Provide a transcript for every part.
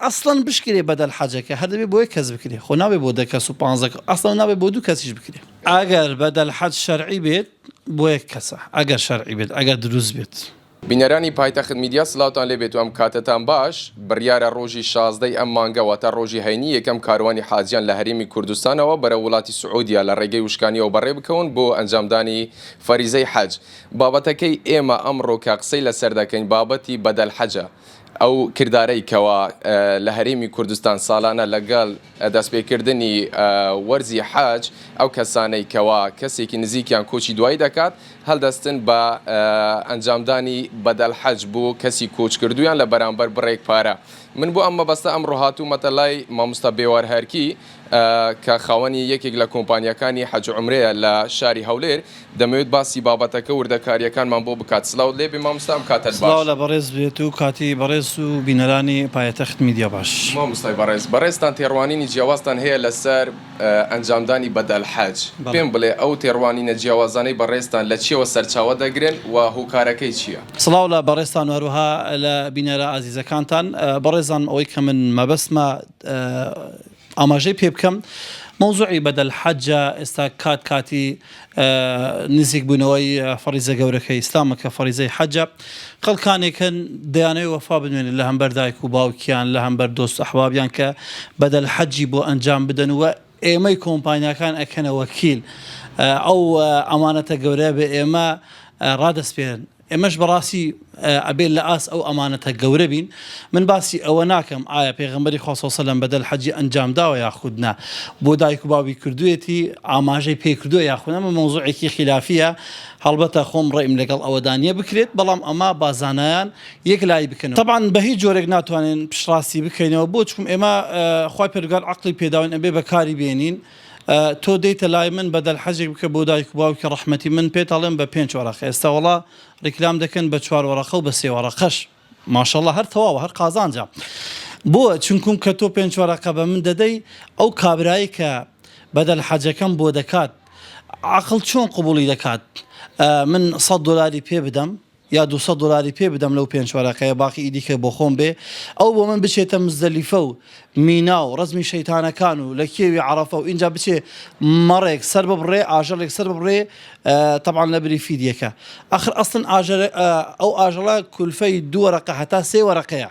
ئەسڵەن بشکرێ بەدەل حەجەکە هەر دەبێ بۆ یەک کەس بکرێ خۆ نابێ بۆ دە کەس و پانزە کەس ئەسڵەن نابێ بۆ دوو کەسیش بکرێ. ئەگەر بەدەل حەج شەرعی بێت بۆ یەک کەسە ئەگەر شەرعی بێت ئەگەر دروست بێت. بینەرانی پایتەخت میدیا سلاوتان لێبێت و ئەم کاتەتان باش، بڕیارە ڕۆژی شازدە ی ئەم مانگە واتە ڕۆژی هەینی یەکەم کاروانی حاجیان لە هەرێمی کوردستانەوە بەرەو وڵاتی سعودیە لە ڕێگەی وشکانیەوە بەڕێ بکەون بۆ ئەنجامدانی فەریزەی حەج بابەتەکەی ئێمە ئەمڕۆ کە قسەی لەسەر دەکەین بابەتی بەدەل حەجە ئەو کردارەی کەوا لە هەرێمی کوردستان ساڵانە لەگەڵ دەستپێکردنی وەرزی حەج ئەو کەسانەی کەوا کەسێکی نزیکیان کۆچی دوایی دەکات هەلدەستن بە ئەنجامدانی بەدەل حەج بۆ کەسی کۆچکردویان لە بەرامبەر بڕێک پارە من بۆ ئەم مەبەستە ئەمڕۆ هاتومەتە لای ماموستا بێوارهەرکی کە خاوەنی یەکێک لە کۆمپانیاکانی حەج و عومرەیە لە شاری هەولێر دەمەوێت باسی بابەتەکە وردەکاریەکانمان بۆ بکات سلاوت لێبێ ماموستا ئەم کاتەت باش. سڵاو لە بەڕێز بێت و کاتی بەڕێز و بینەرانی پایەتەخت میدیا باش. ماموستای بەڕێز بەڕێزتان تێڕوانینی جیاوازتان هەیە لەسەر ئەنجامدانی بەدەل حەج پێم بڵێ ئەو تێڕوانینە جیاوازانەی بەڕێزتان لە چیەوە سەرچاوە دەگرن و هۆکارەکەی چیە؟ سڵاو لە بەڕێزتان و هەروەها لە بینەرە ئازیزەکانتان بەڕێزان ئەوەی کە من مەبەستمە ئاماژەی پێ بکەم مەوزوعی بەدەل حەجە ئێستا کات کاتی نزیک بوونەوەی فەڕیزە گەورەکەی ئیسلامە کە فەڕیزەی حەجە خەڵکانێک هەن دەیانەوێت وەفا بنوێنن لە هەمبەر دایک و باوکیان لە هەمبەر دۆست ئەحبابیان کە بەدەل حەجی بۆ ئەنجام بدەن و ئێمەی کۆمپانیاکان ئەکەنە وەکیل ئەو ئەمانەتە گەورەیە بە ئێمە ڕادەسپێرن. ئێمەش بەڕاستی ئەبێ لە ئاست ئەو ئەمانەتە گەورە بین، من باسی ئەوە ناکەم ئایا پێغەمبەری خوا صلی سلم بەدەل حەجی ئەنجام داوە یاخود نا، بۆ دایک و باوی کردوویەتی، ئاماژەی پێ کردووە یاخود نا، ئەمە مەوزوعێکی خیلافییە، هەڵبەتە خۆم ڕەئیم لەگەڵ ئەوەدا نییە بکرێت، بەڵام ئەمە با زانایان یەک لایی بکەنەوە. تەبعەن بە هیچ جۆرێک ناتوانین پشتڕاستی بکەینەوە، بۆ چکم ئێمە خوای پەروەردگار عەقڵی پێداوین ئەبێ بە کاری بێنین، تۆ دێیتە لای من بەدەل حەجێک بکە بۆ دایک و باوکی ڕەحمەتی من پێت ئەڵێم بە پێنج وەرەقە ئێستا وەڵا ڕیکلام دەکەن بە چوار وەرەقە و بە سێ وەرەقەش ماشەڵا هەر تەواوە هەر قازانجە بۆ چونکوم کە تۆ پێنج وەرەقە بە من دەدەی ئەو کابرایی کە بەدەل حەجەکەم بۆ دەکات عەقڵ چۆن قبوڵی دەکات من سەد دۆلاری پێ بدەم؟ یا دوو سەد دۆلاری پێ بدەم لەو پێنج وەرەقەیە باقی ی دیکە بۆ خۆم بێ ئەو بۆ من بچێتە مزدەلیفە و مینا و ڕەزمی شەیتانەکان و لە کێوی عەڕەفە و ئینجا بچێ مەڕێک سەر ببڕێ ئاژەڵێک سەر ببڕێ تەبعەن لە بری فیدیەکە ئەخر ئەسڵەن ئاژەڵ ئەو ئاژەڵە کولفەی دوو وەرەقە هەتا سێ وەرەقەیە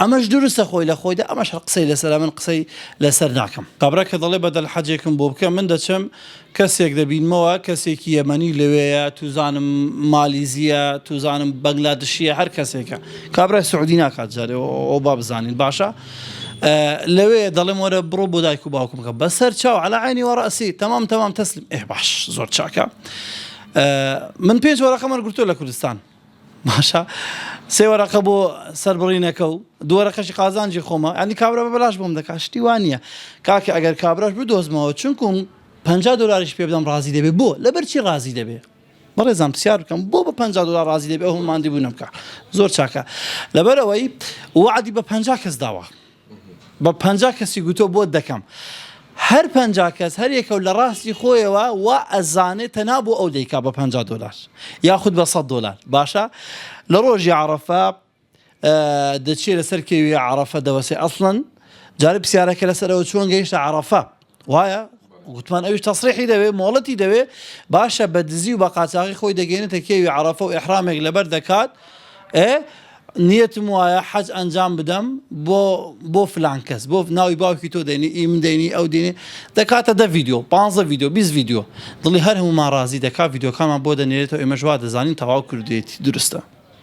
ئەمەش دروستە خۆی لە خۆیدا ئەمەش هەر قسەی لەسەرە من قسەی لەسەر ناکەم. کابرا کە دەڵێ بەدەل حەجێکم بۆ بکە من دەچم کەسێک دەبینمەوە کەسێکی یەمەنی لەوێیە توزانم مالیزیە توزانم بەنگلادشیە هەر کەسێکە کابرای سعودی ناکات جارێ ئەوە با بزانین باشە لەوێ دەڵێم وەرە بڕۆ بۆ دایک و باوکم کە بەسەر چاو عەلا عینی وەڕەسی تەمام تەمام تەسلیم ئێ باش زۆر چاکە من پێنج وەرەقەم وەرگرتووە لە کوردستان باشە سێ وەرەقە بۆ سەربڕینەکە و دوو وەرەقەشی قازانجی خۆمە یانی کابرا بە بەلاش بۆم دەکات شتی وا نییە کاکە ئەگەر کابراش بدۆزمەوە چونکم پەنجا دۆلاریش پێ بدەم ڕازی دەبێ بۆ لەبەر چی ڕازی دەبێ بەڕێزان پرسیار بکەم بۆ بە پەنجا دۆلار ڕازی دەبێ ئەو ماندی بوو نەمکە زۆر چاکە لەبەرەوەی وعدی بە پەنجا کەس داوە بە پەنجا کەسی گوتووە بۆت دەکەم. هەر پەنجا کەس هەر یەکەو لە ڕاستی خۆیەوە وا ئەزانێ تەنها بۆ ئەو دەیکا بە پەنجا دۆلار یاخود بە سەد دۆلار باشە لە ڕۆژی عەڕەفە دەچێ لەسەر کێوی عەڕەفە دەوەسێ ئەسڵەن جارە پرسیارەکە لەسەرەوە چۆن گەیشتە عەڕەفە وایە گوتمان ئەوش تەسریحی دەوێ مۆڵەتی دەوێ باشە بە دزی و بە قاچاقی خۆی دەگەێنێتە کێوی عرفە و ئحرامێک لەبەر دەکات ئێ نیەتم وایە حەج ئەنجام بدەم بۆ بۆ فلان کەس بۆ ناوی باوکی تۆ دەینی ئی من دەینی ئەو دێنێ دەکاتە دە ڤیددیو 15 ڤیددیو 20 ڤیددیو دڵی هەر هەمومان ڕازی دەکات ڤیددیوکانمان بۆ دەنێرێتەوە ئێمەژوا دەزانین تەواو کردێتی درستە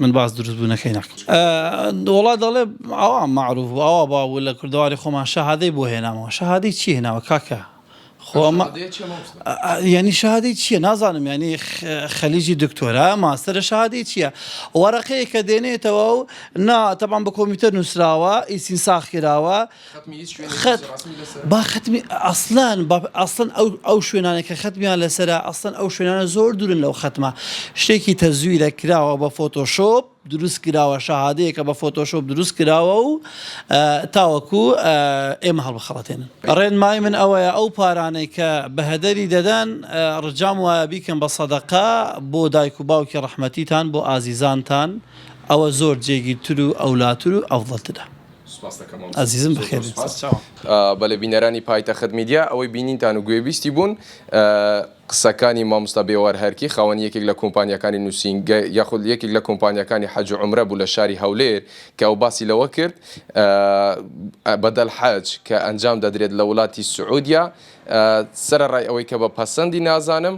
من باس دروست بوونەکەی ناکەم وڵا دەڵێ ئەوە معروف ئەوە با بوو لە کوردواری خۆمان شەهادەی بۆ هێناوە شەهادەی چی هێناوە کاکە خۆمە ینی شادی چییە نازانم ینی خەلیجی دکتۆرا ماستەرە شادی چییە وەرەقەیە کە دێنێتەوە و نا تەبان بە کۆمیتەر نووسراوە ئیسین ساخ کراوە خەت با خەتمی ئەسلان ئەسڵەن ئەو ئەو شوێنانە کە خەتمیان لەسرە ئەسڵەن ئەو شوێنانە زۆر دوورن لەو خەتمە شتێکی تەزویرە کراوە بە فۆتۆشۆپ دروست کراوە شەهادەیە کە بە فۆتۆشۆپ دروست کراوە و تاوەکو ئێمە هەڵبخەڵەتێن ڕێن مای من ئەوەیە ئەو پارانەی کە بەهدەری دەدەن ڕجام وایە بیکەم بە سەدەقا بۆ دایک و باوکی ڕەحمەتیتان بۆ ئازیزانتان ئەوە زۆر جێگیرتر و ئەولاتر و ئەفضلترە ئەزیزم بەخێر بێن سەر چاوم. بەلێ بینەرانی پایتەخت میدیا ئەوەی بینینتان و گوێبیستی بوون قسەکانی ماموستا بێوار هەرکی خاوەنی یەکێک لە کۆمپانیاکانی نوسینگە یاخود یەکێک لە کۆمپانیاکانی حەج و عومرە بوو لە شاری هەولێر کە ئەو باسی لەوە کرد بەدەل حەج کە ئەنجام دەدرێت لە ولاتی سعودیا سەرەڕای ئەوەی کە بە پەسەندی نازانم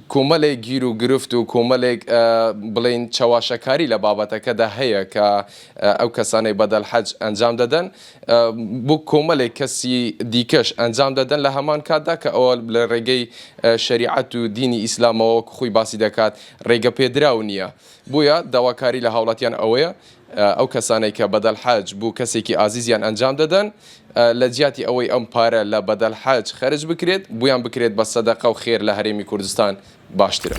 کۆمەلێک گیر و گرفت و کۆمەلێک بڵێین چەواشەکاری لە بابەتەکەدا هەیە کە ئەو کەسانەی بەدەل حەج ئەنجام دەدەن بۆ کۆمەلێک کەسی دیکەش ئەنجام دەدەن لە هەمان کاتدا کە ئەوە لە رێگەی شەریعەت و دینی ئیسلامەوە وەکو خۆی باسی دەکات رێگە پێدراو نیە بۆیە داواکاری لە هاوڵاتیان ئەوەیە ئەو کەسانەی کە بەدەل حەج بو کەسێکی ئازیزیان ئەنجام دەدەن لە جیاتی ئەوەی ئەم پارە لە بەدەل حەج خەرج بکرێت بویان بکرێت بە سەدەقە و خێر لە هەرێمی کوردستان باشترە.